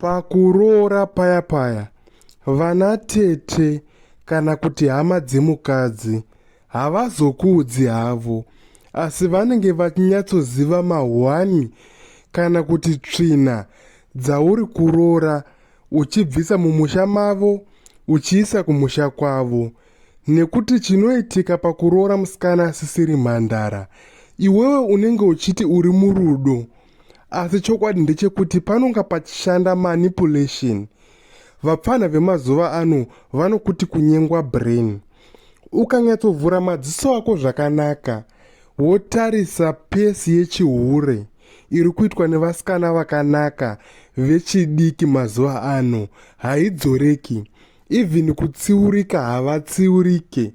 Pakuroora paya paya, vana tete kana kuti hama dzemukadzi havazokuudzi havo asi vanenge vachinyatsoziva mahwani kana kuti tsvina dzauri kuroora uchibvisa mumusha mavo uchiisa kumusha kwavo nekuti chinoitika pakuroora musikana asisiri mhandara iwewe unenge uchiti uri murudo asi chokwadi ndechekuti panonga pachishanda manipulation vapfanha vemazuva ano vanokuti kunyengwa brain ukanyatsovhura madziso ako zvakanaka wotarisa pesi yechihure iri kuitwa nevasikana vakanaka vechidiki mazuva ano haidzoreki even kutsiurika havatsiurike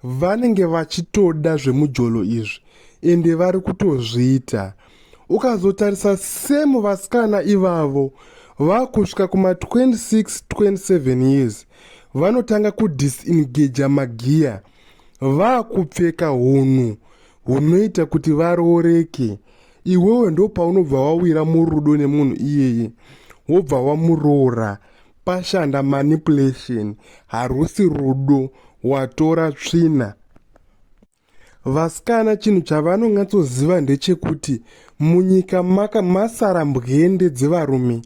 vanenge vachitoda zvemujolo izvi ende vari kutozviita ukazotarisa same vasikana ivavo vakusvika kuma 26 27 years vanotanga kudisengaja magiya vakupfeka hunhu hunoita kuti varooreke iwewe ndopaunobva wawira murudo nemunhu iyeye wobva wamuroora pashanda manipulation harusi rudo watora tsvina Vasikana chinhu chavanonyatsoziva ndechekuti munyika maka masara mbwende dzevarume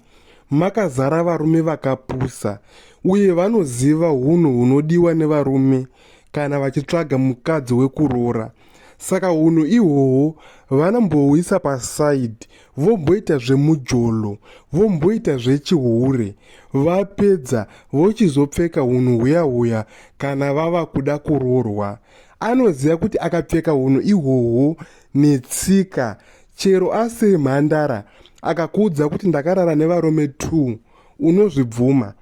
makazara varume vakapusa uye vanoziva hunhu hunodiwa nevarume kana vachitsvaga mukadzi wekuroora saka hunhu ihwohwo vanombohuisa pasaidi vomboita zvemujolo vomboita zvechihure vapedza vochizopfeka hunhu huya huya kana vava kuda kuroorwa anoziva kuti akapfeka hunhu ihwohwo netsika chero asiri mhandara akakuudza kuti ndakarara nevarume 2 unozvibvuma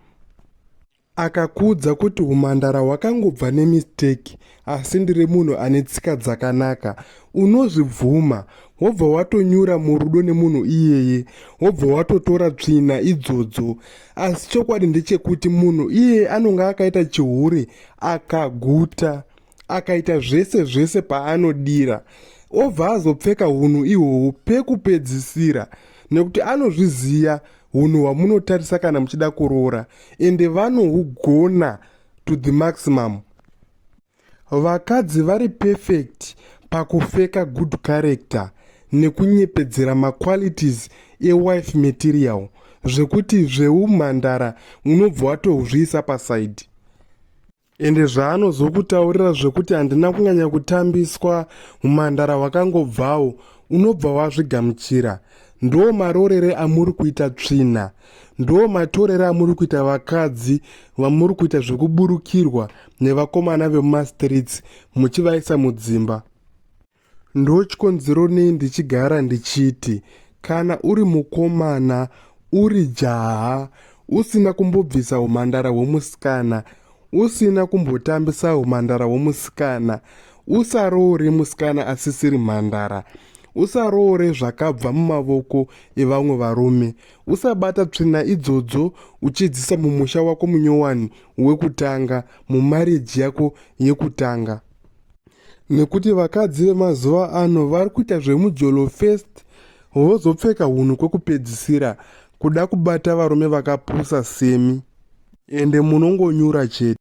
akakuudza kuti umhandara hwakangobva nemistake asi ndiri munhu ane tsika dzakanaka unozvibvuma wobva watonyura murudo nemunhu iyeye wobva watotora tsvina idzodzo asi chokwadi ndechekuti munhu iye anonge akaita chihure akaguta akaita zvese zvese paanodira obva azopfeka unhu ihwohwo pekupedzisira nekuti anozviziva unhu hwamunotarisa kana muchida kuroora ende vanohugona to the maximum Vakadzi vari perfect pakufeka good character nekunyepedzera maqualities ewife material zvekuti zveumhandara unobva watohuzviisa pasaidi ende zvaanozokutaurira zvekuti handina kunyanya kutambiswa umhandara hwakangobvawo unobva wazvigamuchira ndo marorere amuri kuita tsvina ndo matorero amuri kuita vakadzi vamuri kuita zvekuburukirwa nevakomana vemumastreets muchivaisa mudzimba ndo chikonzero nei ndichigara ndichiti kana uri mukomana uri jaha usina kumbobvisa umhandara hwomusikana usina kumbotambisa umhandara hwomusikana usaroore musikana asisiri mhandara usaroore zvakabva mumavoko evamwe varume Usabata tsvina idzodzo uchidzisa mumusha wako munyowani wekutanga, mumarriage yako yekutanga. Nekuti vakadzi vemazuva ano vari kuita zvemujolo first vozopfeka hunhu kwekupedzisira kuda kubata varume vakapusa semi ende munongonyura chete.